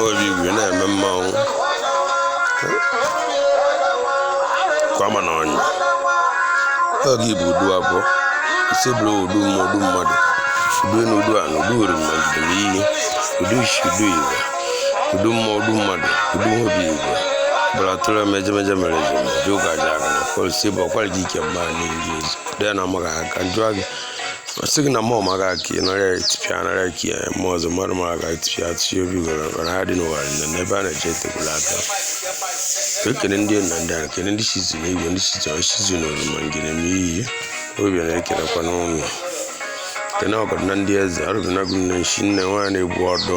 oriri na-eme mmanwụ kwama na ọnya oge bụ udu abụọ ise bụrụ udu mma udu mmadụ udu na udu anụ udu oriri na udu iyi udu isi udu iwe udu mma udu mmadụ udu obi igwe bụla tụrụ eme ejemeje mere ejem jụ gaja agụ na kwalisi bụ ọkwalị gị ike mgba n'ili ezu dị na amaghị aka njụ agụ sị gị na mmụọ maa gị aka ị nara etipịa nara aka ya eme ọzọ mmadụ mara aka etipịa atụchi obi gwara gwara ha dị n'ụwa na n'ebe a na-eje etegbula aka ekene ndị na ndị a ekene ndị chizi na igwe ndị chizi ọrụ chizi na oroma ngene m iyi obi na-ekenekwa n'ụlọ kene ọgọdụ na ndị eze arụbinagụ nne nshi nne nwaanyị na-egbu ọdụ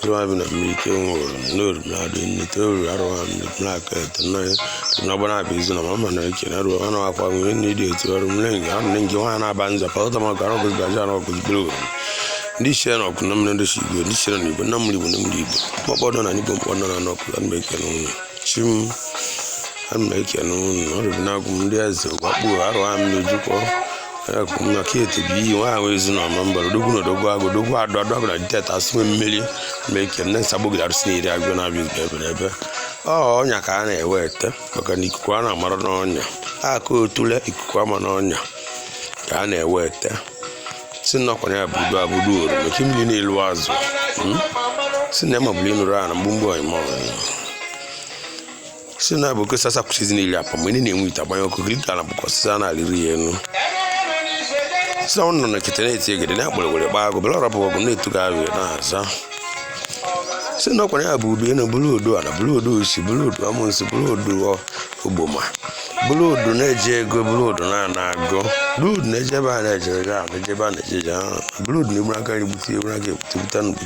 Tumabi na mmiri ike nwụrụ n'oroma adị nne toru arụwa mmiri aka eto na n'ọgba na abịa izu na mama na ekene arụwa ọnụ akwa nwere nne dị otu ọrụ mmiri nke ọnụ nke nwaanyị na-aba nza pa ụtọ maka ọrụ kụzi baja na ọkụzi biri oroma ndị ichie na ọkụ na mmiri ndochi igbo ndị ichie na igbo na mmiri igbo na mmiri igbo mkpọkpọ dọ na igbo mkpọ dọ na n'ọkụ ana m ekene ụlọ chi m ana m ekene ụlọ arụbinagụ ndị eze wakpo arụwa mmiri jukọ maka ete bụ iyi nwa ahụ ezu na ọmambara odogwu na odogwu agụ odogwu adụ adụ agụ na dịteta asị nwe mmiri ma ike nne nsagbo gị arụsị na-eri agụ na-abịa ebe ebe na ebe ọ ọnya ka a na-ewe ete maka na ikuku a na-amara n'ọnya aka otule ikuku ama n'ọnya ka a na-ewe ete sị na ọkwa ya bụ udo abụdo oru maka mmiri na-elu azụ si na ya mabụrụ ịnụrụ a na mgbumgbu ọnyịmọnyị si na bụ kesa sakwụsizi n'ili apa mgbe ndị na-enwe ite agbanye ọkụ grita na bụkwa ọsịsa na-arịrị ya elu sị na ọ nọ n'ekete na-eti egede na akpụrụ were gbaa agụ bela ọrọpụ ọgụ na-etu ga ahụ na-aza sị na ọkwara ya bụ udu na bụrụ odu ala bụrụ odu osi bụrụ odu amụnsị bụrụ odu ogboma bụrụ odu na-eji ego bụrụ odu na-ana agụ bụrụ odu na-eje ebe a na-eje ego ahụ eje ebe a na-eje eje ahụ bụrụ odu na-egburu aka egbute egburu aka egbute bute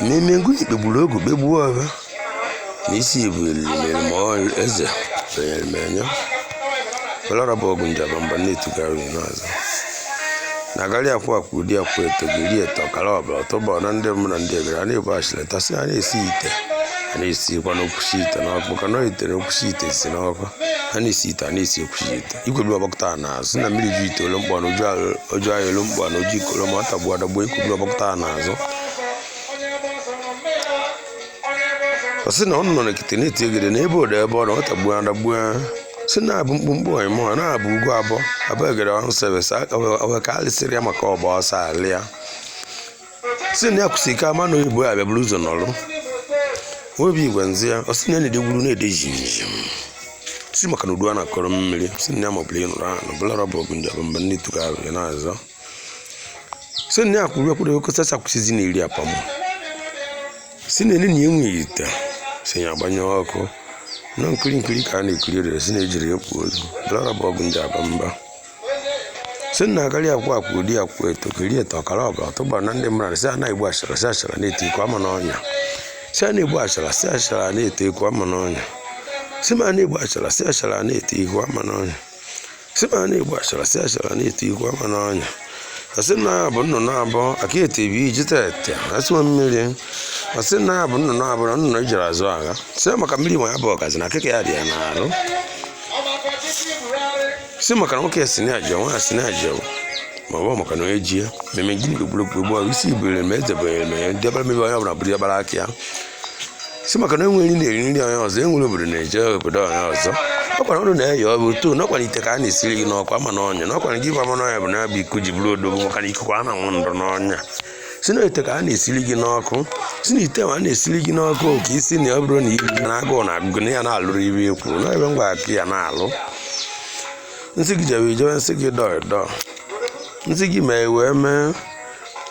mmemme ngụnye kpegburu ogu kpegbuo ọha na isi bụ mere ma ọ eze sonyere m enyo ụlara bụ ọgụ njaba mba na-etugharị n'azụ na agarị akwụ akwụ ụdị akwụ eto giri eto ọkara ọbara ọtọbọ na ndị mmụọ na ndị egara a na-ebu achịrị tasị a na-esi ite a na-esikwa n'okwuchi ite n'ọkụ maka na ite na okwuchi ite si n'ọkụ a na-esi ite a na-esi okwuchi ite ikwebiri ọgbakọta n'azụ na mmiri ju ite olu mkpọ na oju ahịa olu mkpọ na oju ikoro ma ọ tagbuo adagbuo ikwebiri ọgbakọta n'azụ ọ sị na ọ nọ n'ekete na-eti egede n'ebe odo ebe ọ na ọ tagbuo adagbuo sị na abụ mkpumkpu ọyịmụ ọ na-abụ ugwu abụọ abụ egede ọhụrụ sevesi aka wee ka alịsịrị ya maka ọgba ọsọ alị ya si na ya kwụsị ike ama na oyibo abịa bụrụ ụzọ nọrụ obi igwe nzi ya ọ sị na ya na-edegburu na-ede jimjim si maka na udu a na-akọrọ mmiri si na ya mabụrụ ịnụrụ ahụ na bụla rọba bụ ndị abamba ndị tụrụ ahụ ya na-azọ si na ya kwuru ekwuru eko sasa kwụsịzi na iri apam si na ele na ya enweghị ite si ya agbanye ọkụ na nkiri nkiri ka a na-ekiri rere si na ejiri ya kpuo ozu bụla rọba bụ ndị abamba si na akarị akwụ akwụ ụdị akwụ eto kiri eto ọkara ọkara ọtụgba na ndị mmadụ si a na-egbu achara si achara na-eto ikuku ama n'ọnya si a na-egbu achara si achara na-eto ikuku ama n'ọnya si ma a na-egbu achara si achara na-eto ikuku ama n'ọnya si ma a na-egbu achara si achara na-eto ikuku ama n'ọnya asị na ya bụ nnụnụ abụọ aka ete bi iji tete asịwa mmiri asị na ya bụ nnụnụ abụọ na nnụnụ ejiri azụ agha si maka mmiri nwa ya bụ ọgazi na akịka ya dị ya n'arụ si maka na nwoke si na ya ji nwa si na ya ji ma ọ bụ maka na onye ji ya meme gịnị gbogbogbo a isi ibere ma eze banyere ma ya debara mebe onye ọbụla bụrụ debara aka ya si maka na enwere nri na-eri nri onye ọzọ enwere obodo na-eje obodo onye ọzọ ọkwara ọrụ na-eyi ọbụ to n'ọkwara ite ka a na-esiri gị n'ọkụ ama n'ọnya n'ọkwara gị bụ ama n'ọnya bụ na ya bụ ikuku ji bụrụ odogwu maka na ikuku a na-anwụ ndụ n'ọnya si na ite ka a na-esiri gị n'ọkụ si na ite ma a na-esiri gị n'ọkụ ka isi na ọ bụrụ na ibu na agụụ na agụgụ na ya na-alụrụ ibe e kwuru na ebe m gwara ka ya na-alụ m sị gị jebe i jebe m sị gị dọọ ị dọọ m sị gị mee wee mee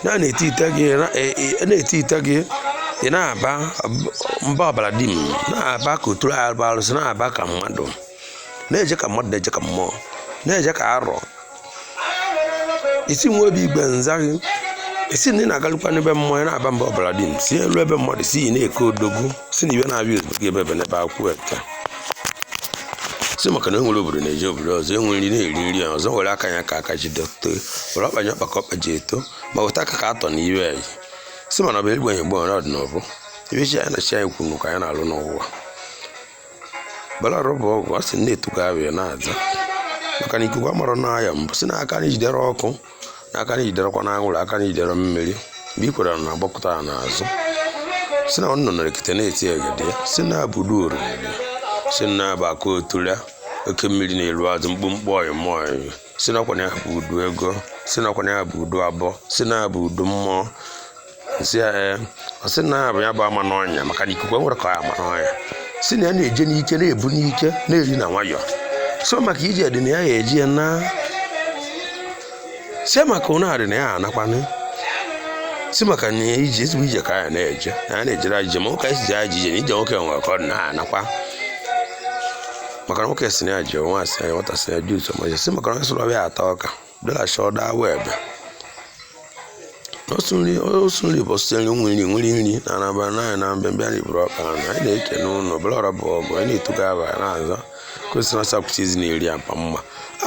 ya na-eti ite gị na- e- e- na-eti ite gị ị na-aba mba ọbara dị m na-aba ka oturu alụsị na-aba ka mmadụ na-eje ka mmadụ na-eje ka mmụọ na-eje ka arọ isi nwe obi igbe nza gị isi na ị na-agalụkwa n'ebe mmụọ ị na-aba mba ọbara dị m si elu ebe mmadụ si ị na-eke odogwu si na iwe na-abịa ozugbo gị ebe ebe n'ebe akwụ eke si maka na enwere obodo na-eje obodo ọzọ enwere nri na-eri nri ya ọzọ were aka nye aka ka aka ji eto were ọkpa nye ọkpa ka ọkpa ji eto ma weta aka ka atọ na iwe anyị si mana ọ bụ eluigwe anyị gbọọ ọdụ na ọ bụ ife chi anyị na chi anyị kwuru ka anyị na-alụ n'ụwa bala rọba ọgwụ a sị na etuga abịa na-aza maka na ikuku amarọ n'ọnya mbụ si na aka na ejidere ọkụ na aka na ejiderekwa na anwụrụ aka na ejidere mmiri mgbe i kwere na agbapụta ya n'azụ si na ọ nọ n'ekete na-eti egede ya si na abụ udu oriri si na abụ aka otula oke mmiri na-eru azụ mkpụmkpụ ọyị mọyị si na ọkwa na ya bụ udu ego si na ọkwa na ya bụ udu abụọ si na ya bụ udu mmụọ si ya ee ọ sị na abụ ya bụ ama n'ọnya maka na ikuku nwere ka ọ ama n'ọnya si na ya na-eje n'ike na-egbu n'ike na-eri na nwayọọ so maka ije dị na ya ya eji ya na si maka ụnụ adị na ya anakwanụ si maka na ya ji ezigbo ije ka ya na-eje na ya na-ejere ajije ma nwoke si aji ije na ije nwoke nwere ka ọ dị na anakwa maka na nwoke si na ya ji nwa si ya nwata si ya jus ọmaja si maka na ọ sụrụ ọbịa ata ọka bịaghachi ọ daa wee bịa otu nri otu nri bụ site nri nwiri nwiri nri na anaba naanị na mbe mbịa ribụrụ ọkpa na anyị na-eke n'ụlọ bụla ọra bụ ọgwụ anyị na-etu ka aba ya na-aza kwesịrị ọsa kwụsị izi na eri apa mma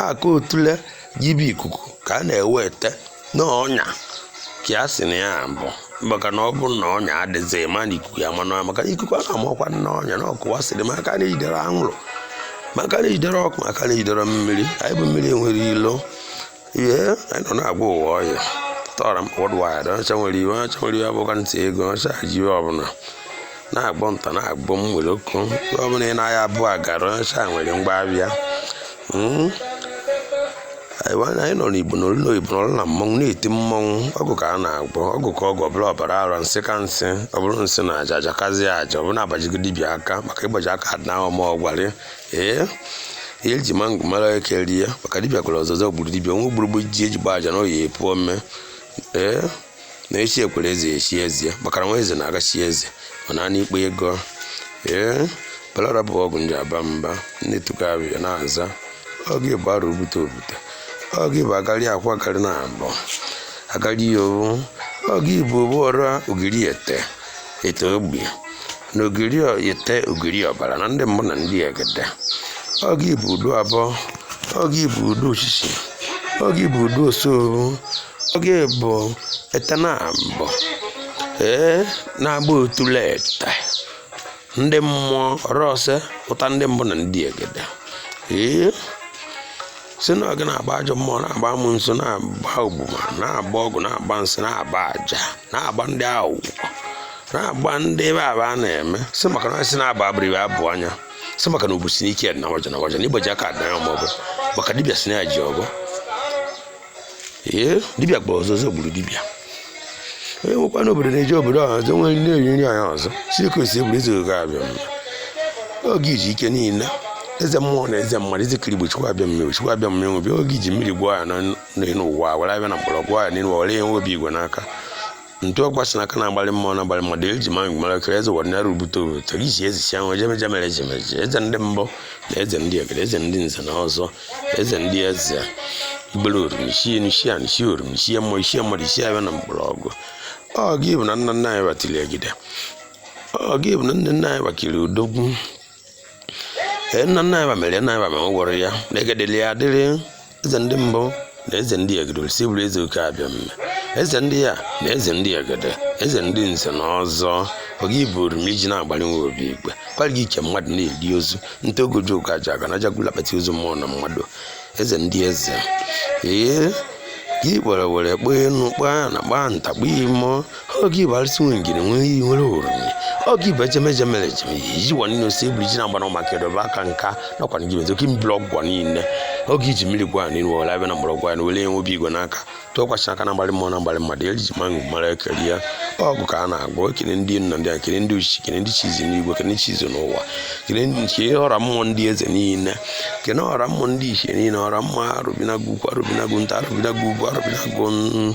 aka otule jibi ikuku ka a na-ewe ete na ọnya ka ya si na ya mbụ maka na ọ bụ na ọnya adịghị ma na ikuku ya manụ maka na ikuku a na-amakwa na ọnya na ọkụwa sịrị maka na ijidere anwụrụ maka na ijidere ọkụ maka na ijidere mmiri anyị bụ mmiri enwero ilo ihe anyị nọ na-agwa ụwa ọya tọrọ m worldwide ọcha nwere iwe ọcha nwere iwe abụka ntị ego ọcha ji iwe ọbụla na-agbọ nta na-agbọ imo nwere okwu ọ bụla ị na-aya abụọ agara onye saa nwere ngwa abịa hmm? anyị nọ n'igbo na olu oyibo nọrọ na mmọnwụ na-eti mmọnwụ ọgwụ ka a na-agwọ ọgwụ ka ọgwụ ọbụla ọbara ara nsị ka nsị ọ bụrụ nsị na aja aja kazị aja ọ bụrụ na agbajigo dibịa aka maka ịgbaji aka adị na ọma ọgwarị ee ihe eji mango mara eke rie maka dibịa gwọrọ ọzọ ọzọ gburu dibịa nwa gburugburu ji eji gba aja na oyi epu ome ee na echi ekwere eze echi ezie maka na nwa eze na-agachi eze ọ nọ n'ikpo ego ee balara bụ ọgwụ nji aba mba na-etu ka aba ya na-aza ọ gị bụ arụ obute obute ọ gị bụ agarị akwa garị na abụọ agarị ya owu ọ gị bụ obu ọrụ ogiri ete ite ogbi na ogiri ite ogiri ọbara na ndị mbụ na ndị egede ọ gị bụ udu abụọ ọ gị bụ udu osisi ọ gị bụ udu osoru ọ gị bụ etena mbụ ee na-agba otule ete ndị mmụọ ọrọse ụta ndị mbụ na ndị egede ee si na gị na-agba ajọ mmụọ na-agba amosu na-agba ogbuma na-agba ọgwụ na-agba nsị na-agba aja na-agba ndị ahụ na-agba ndị ebe aba a na-eme si maka na si na-agba abụrịbe abụ anya si maka na obusi n'ike adị na waja na waja na igbaji aka adị na ọma ọgwụ maka dibịa si na ya ji ọgwụ ee dibịa gwọrọ ọzọ ọzọ gburu dibịa onye nwekwa n'obodo na-eji obodo ọha ọzọ nwere nri na-eri nri onye ọzọ chineke osi egburu eze oge abịa mma ọ gị ji ike niile eze mmụọ na eze mmadụ eze kiri gbochikwa abịa mma gbochikwa abịa mma enwe bịa ọ gị ji mmiri gwọọ ya n'elu ụwa were abịa na mgbọrọgwụ ya n'elu ụwa were ya nwe obi igwe n'aka ntu ọkwa si n'aka na-agbalị mmụọ na-agbalị mmadụ eji ma mara kere eze wara nara ubute obodo isi ezisi ahụ ejeme jemere ejemeje eze ndị mbụ na eze ndị egede eze ndị nze na ọzọ eze ndị eze igbere oriri ichie n'ichie a n'ichie oriri n'isi mmụọ isi mmadụ isi abịa na mgbọrọgwụ ọ gị bụ na nna nna anyị batili egide ọ gị bụ na nne nna anyị bakiri odogwu ee nna nna ya mere nna ya mere gwọrọ ya na egedele ya dịrị eze ndị mbụ na eze ndị egede si bụrụ eze oke abịama eze ndị ya na eze ndị egede eze ndị nze na ọzọ oge iburu m iji na-agbali nwa obi igwe kwara gị ike mmadụ na-eri ozu nte ogoji ụka aja aga na ajagbula akpati ozu mmụọ na mmadụ eze ndị eze ee gị were were kpọọ enu kpọọ ana kpọọ nta kpọọ imo oge ibe alụsị nwere ngene nwere iyi nwere orimiri oge ibe ejemeje mere ejem iji wa niile osi ebuli ji na mgbana maka edobe aka nka nakwa ndị ibe oke mbili ọgwụ niile oge iji mmiri gwa anyị n'iru ọla ebe na mgbọrọgwụ anyị were enwe obi igwe n'aka tụkwasị aka na mgbalị mmụọ na mgbalị mmadụ ya ejiji mangụ mara ekele ya ọgwụ ka a na-agwọ ekele ndị nna ndị a kele ndị uchichi kele ndị chizi n'igwe kele chizi n'ụwa kele nke ọra mmụọ ndị eze niile kele ọra mmụọ ndị ichie niile ọra mmụọ arụbinagu ukwu arụbinagu nta arụbinagu ugwu arụbinagu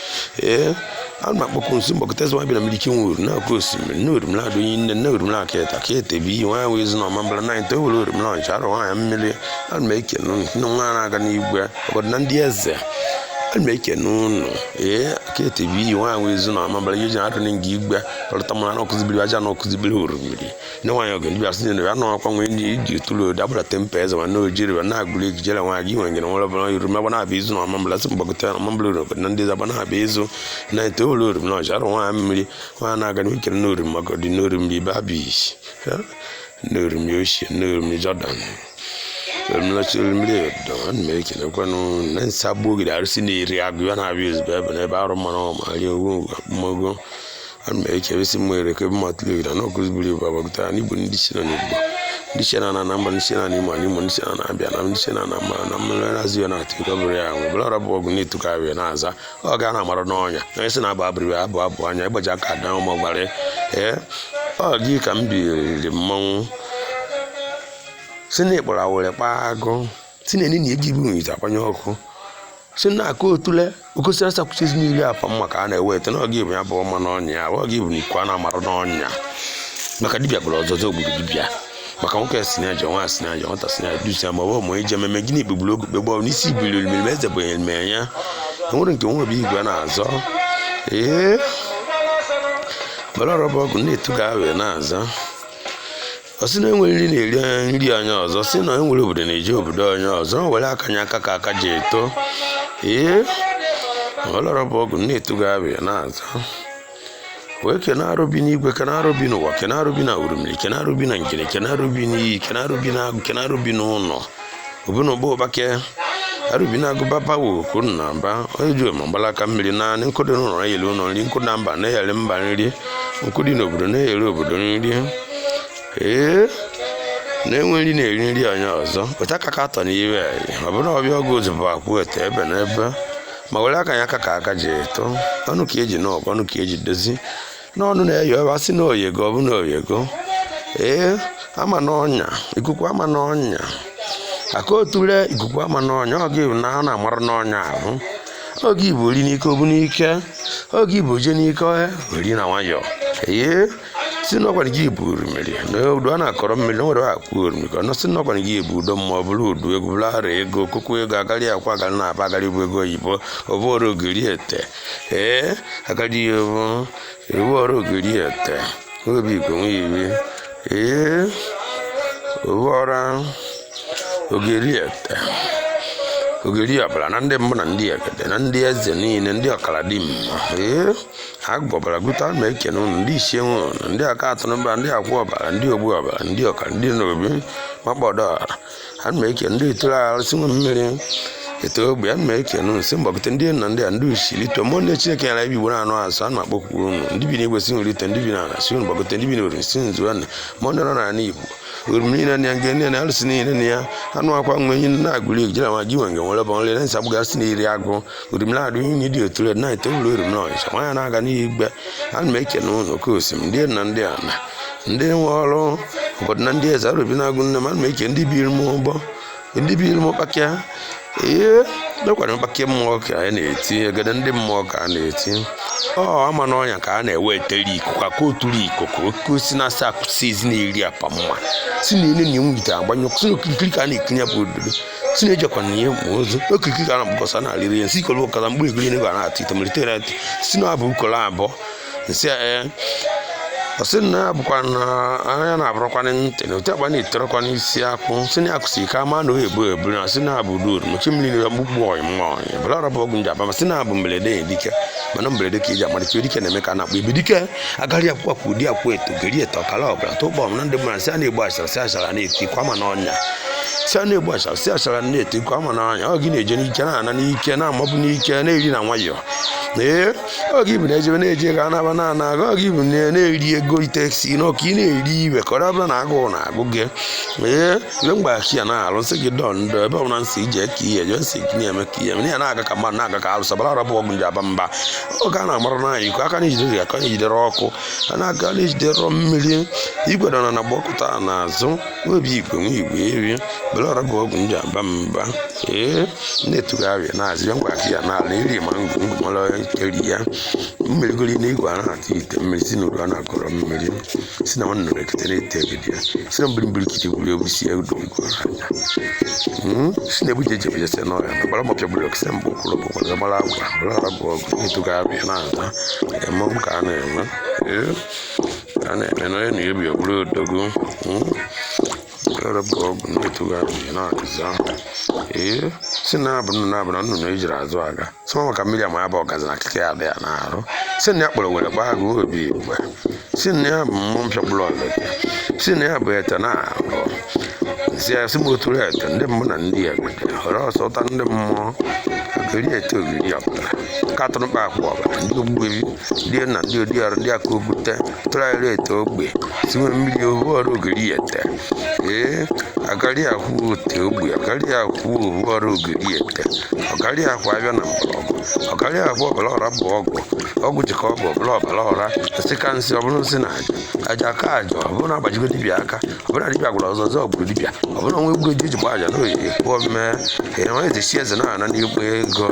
ee ana m akpọku n'isi mgbakọta eze nwabịa na mmiri ike nwuru na-akụ osimiri na orim na-adụ onye nne na orim na-aka eta ka ete bụ iyi nwaanyị nwe ezu na ọmambala na ite were orim na ọncha arọ nwaanyị mmiri ana m ekene unu nne nwa na-aga n'igwe ọgọdụ na ndị eze ana m ekene unu ee ka ete bụ iyi nwaanyị nwe ezu na ọmambala ihe ji na-adụ na nga igwe ọlụta mụ na ọkụzibiri aja na ọkụzibiri orimiri nne nwaanyị oge ndị bịasị nyere ya nọ akwa nwee ndị iji tụlụ ode agbadata mpe eze ma na ojiri ba na-agụli ejije na nwaanyị inwe ngere nwere ọbụla yuru mebe na-abịa ezu na ọmambala sị mgbagote ọmambala uru na ndị zaba na-abịa ezu na ete ụlọ orim na ọja arụ nwaanyị mmiri nwaanyị na-aga n'ikere na orim makurdi n'orim bi bar beach n'orim ochie n'orim jọdan mmiri ọdọ ana m ekelekwanụ na nsa bụ ogede arụsị na-eri agụ ya na-abịa ozugbo ebe n'ebe arụ mmanụ ma rie ogwu mmogo ana m echebesi m were kebe matloira na ọkụzi buru ibu agbagotara na igbo ndị si na n'igbo ndị si na anambra ndị si na n'imo na imo ndị si na n'abịa na ndị si na anambra na mmere na-azụ ya na-atụ iko bụrụ ya nwebere ọra bụ ọgụ na-etukarị na-aza ọ ga na amarụ n'ọnya onye si na abụ abụrụ ya abụ abụ anya ịgbaji aka ada ụmụ gwara ya ee ọ gị ka m biriri mmanwụ si na ịkpọrọ awere kpaa agụ si na enyi na ego ibu nwere ite akwanye ọkụ si na aka otule okosira sakwuchizi n'iri apa mma ka a na-eweta na ọga ibu ya bụ ọma n'ọnya ya ọga ibu na iko a na-amara n'ọnya maka dibịa gwara ọzọzọ ogburu dibịa maka nwoke si na aje nwaanyị si na aje nwata si na dusi ma ọ bụ ije ememe gịnị kpegburu okpukpe gbọọ n'isi ibili olimiri ma eze bụnyere m ya enwere nke nwe obi igwe na-azọ ee mara ọrọba ọgụ na-etu ga awe na-aza ọ sị na enwere nri na-eri nri onye ọzọ si na enwere obodo na-eji obodo onye ọzọ were aka nye aka ka aka ji eto ee ọlọrọ bụ ọgụ na-etu gị abịa na-aza wee kene arụbi n'igwe kene arụbi n'ụwa kene arụbi na orimiri kene arụbi na ngene kene arụbi n'iyi kene arụbi na agụ kene arụbi n'ụnọ obunobo ọbake arobinagụ babawo kwuru na mba onye ji ma mgbalaka mmiri naanị nkụ dị n'ụlọ na-eyere ụlọ nri nkụ dị na mba na-eyere mba nri nkụ dị n'obodo na-eyere obodo nri ee na-enwe nri na-eri nri onye ọzọ pụta ka ka atọ n'iwe ọ bụrụ ọbịa ọgụ ozugbo akwụ ete ebe na ebe ma were aka ya aka ka aka ji eto ọnụ ka eji na ọgụ ọnụ ka eji dozi n'ọnụ na-eyo ebe asị na oyego ọ bụ na oyego ee ama n'ọnya ikuku ama n'ọnya aka otule ikuku ama n'ọnya ọ gị bụ na a na-amarụ n'ọnya ahụ ọ gị bụ ori n'ike obu n'ike ọ gị bụ oje n'ike ori na nwayọọ ee si n'ọ kwanụ gị bụ orumiri na udu a na-akọrọ mmiri nwere akpụ orumiri ka ọ si n'ọ kwanụ gị bụ udo mma ọ bụrụ udu egwu bụrụ ara ego kụkụ ego agarị akwa agarị na-aba agarị bụ ego oyibo ọ bụrụ ogiri ete ee agarị ya bụ ewu ọra ogiri ete obi ikonwe iwe ee owu ọra ogiri ete ogiri ọbara na ndị mbụ na ndị egede na ndị eze niile ndị ọkara dị mma ee agbọbara gụta ma ekene ụnụ ndị ichie nwe ụnụ ndị aka atụnụba ndị akwụ ọbara ndị ogbu ọbara ndị ọkara ndị n'obi makpọdọ ana m ekene ndị itoro arụsị nwe mmiri eto ogbe ana m ekene ụnụ si gbakọta ndị nna ndị a ndị usi lito mmụọ ndị chineke yara ibi gboro anụ asụ ana m akpọkwuru unu ndị bi n'igwe si nrite ndị bi n'ala si unu gbakọta ndị bi n'ori si nzu ana mụ ndị nọ n'ala igbo orumiri na ya ngene niile na arụsị niile na ya anụ akwa nwe enyi na-agụrụ egwu jere nwa gị nwe nge nwere ọbọ nri na nsị abụghị arụsị na iri agụ orumiri ado ihe na ịdị otule na etewuru orumiri ọnịcha nwa ya na-aga n'ihi igbe ana m ekene ụnụ ka osim ndị na ndị ana ndị nwe ọrụ obodo na ndị eze arobinagụ nne m ana m ekene ndị biri m ụgbọ ndị biri m kpakịa ee mekwara mkpakịa mmụọ ka a na-eti egede ndị mmụọ ka a na-eti ọ ama n'ọnya ka a na-ewe etere ikuku aka oturu ikuku oke osi na asa akụsi ezi na-eri apa mma si na ile na enwulite agbanyụ si na okirikiri ka a na-ekiri ihe bụ ododo si na ejikwana ya ema ozu okirikiri ka a na-agba ukwu ose anarọ arị ya enu si ikolo ụkọta mgbe egiri nego na atụ ite malitere atị si na abụ ukolo abụọ nsị ya ee ọsị na ya bụkwa na anya na-abụrọkwana ntị na otu agba na-eterekwa n'isi akwụ si na akụsi ike ama na oyi ebu ebu na si na abụ dur mechi mmiri na mgbukpọ ọyị mma ọyị bụla ọrọbụ ọgwụ m ji aba mba si na abụ mberede ya dike mana mberede ka eji amalite dike na-eme ka a na-akpọ ebi dike agarị akwụkwọ ka ụdị akwụ eto geri eto ọkara ọbara tụkpọ na ndị mmadụ si a na-egbu achara si achara na-eto ikuku ama n'ọnya si a na-egbu achara si achara na-eto ikuku ama n'ọnya ọ gị na-eje n'ike na-ana n'ike na-amapụ n'ike na-eri na nwayọọ ee ọ gị bụ na-ejebe na-eje aga anaba na ana aga ọ gị bụ na-eri ego ite si n'ọka ị na-eri ihe ka ọ dabara na agụụ na-agụ gị ee iwe mgbaghachi ya na-alụ m sị gị dọọ ndọ ebe ọbụla m sị gị jee ka ihe eje m sị gị na-eme ka ihe eme ya na-aga ka mmadụ na-aga ka alụsị bara arabụ ọgwụ m ji aba mba ọ ga na-agbara na iko aka na-ejidere aka na-ejidere ọkụ a na-aga na-ejidere mmiri igwe dọ na mgbakọta n'azụ obi igwe nwa igwe eri belọra bụ ọgwụ nji aba mba ee na-etugharị na-azụ ya ngwa ya n'ala eri ma ngwụ ngwụmara eri ya mmiri gori na igwe a na-atụ ite mmiri si n'ụlọ na-akọrọ mmiri si na nwanne nwere ekete na-ete egede ya si na mbiri mbiri kiti gburu egwu si ya udo igwe anya Mm, si na ebuje jebe jese n'ọya na gbara mọpịa gburu ọkịsa mgbe okpuru bụ gbara gbara agwa gbara agwa ọgwụ na-etuga abịa na-aza eme ọgwụ ka a na-eme Ee, a na-eme na onye na-ebi ogburu odogwu Mm, Rere bụ ọgwụ na-etugharị ya na-aza. Ee, si na abụ nnụnụ abụ na nnụnụ ejiri azụ aga. Sọ maka mmiri ama ya bụ ọgazi na akịka ya dị ya n'arụ. Si na ya kpọrọ were gbaa agụ obi igwe. Si na ya bụ mmụọ mpịa bụrụ ọlọdị. Si na ya bụ ete na abụ. Si ya si m otu ete ndị mmụọ na ndị egede. Họrọ ọsọ ụta ndị mmụọ. Ogiri ete ogiri ọbụla. Katụrụ mkpa akwụ ọbụla ndị ogbu ebi. ndị na ndị odiara ndị aka ogute tụrarị ete ogbe siwe mmiri ohu ọrụ ogiri ete ee a ga-eri akụ ote ogbe a ga-eri akụ ohu ọrụ ogiri ete ọ ga-eri akụ abịa na mgbọrọgwụ ọ ga-eri akụ ọbara ọra bụ ọgwụ ọgwụ jikọ ọgwụ ọbụla ọbara ọra nsị ka nsị ọbụla nsị na aja aja ka aja ọbụla na-agbajigo dibịa aka ọbụla dibịa gwọrọ ọzọ ọzọ gburu dibịa ọbụla onwe gburu ji jikwa aja n'oyi pụọ mme enwe eze chi eze na-ana n'ikpo ego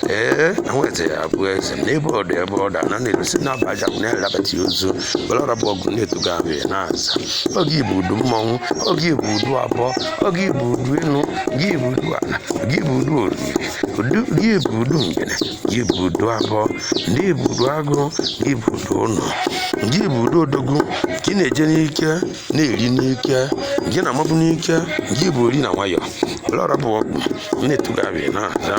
ee enwe eze abụ eze n'ebe ọdụ ebe ọ da na na-erusi na aba aja na elabata ozu bụlara bụ ọgwụ na-etuga abụ ya na-aza ọ gị bụ udu mmọnwụ ọ gị bụ udu abụọ ọ gị bụ udu enu gị bụ udu ala gị bụ udu oriri gị bụ udu ngene gị bụ udu abụọ gị bụ udu agụ gị bụ udu ụnọ gị bụ udu odogwu gị na-eje n'ike na-eri n'ike gị na-amabụ n'ike gị bụ ori na nwayọ lọrọ bụ ọgwụ na-etugharị na-aza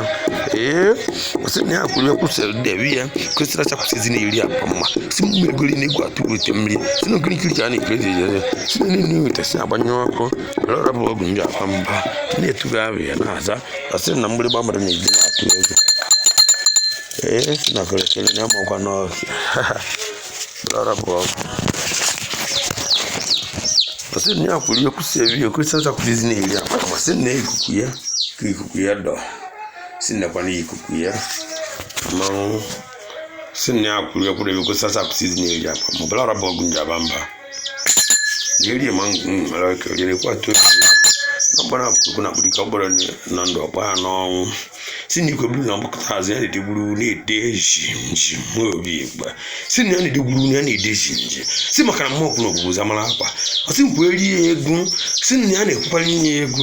ọ sị na ya kwuru ekwụsị dewi ya kwesịrị acha kwụsịzi na-eri akpa mma si mgbe egori na egwu atụ ute mmiri si na okirikiri ka a na-ekiri eze si na niile eweta si agbanyụ ọkụ lọrọ bụ ọgwụ nji aba mba na-etugharị ya na-aza ọ sịrị na mgbịrịgba mmadụ na-eji na-atụ egwu ee si na kelekele na-amakwa n'ọhịa ọbara ọra bụ ọgwụ ọ sịrị na ya kwuru ihe kwụsị eri ya kwụsị ọcha kwụsịzi na-eri ya maka ma sị na ikuku ya ka ikuku ya dọ si nakwa na ikuku ya mmanwụ si na ya kwuru ekwuru ebe kwesịrị acha kwụsịzi na eri akwa ma bụla ọra bụ ọgwụ nji aba mba na eri ma nwere ike ojere kwa to ọgbara akwụkwọ na akpụrụ ike ọ gbara na ndụ ọgba ha n'ọnwụ si na ikwe buru na mgbakọta azụ ya na-ede gburu na-ede jimjim obi gba si na ya na-ede gburu ya na-ede jimjim si maka na mmụọ kwuru na ogbugbo zamara akwa ọ sị nkwa eri ya ego si na ya na-ekwukwara inye ya ego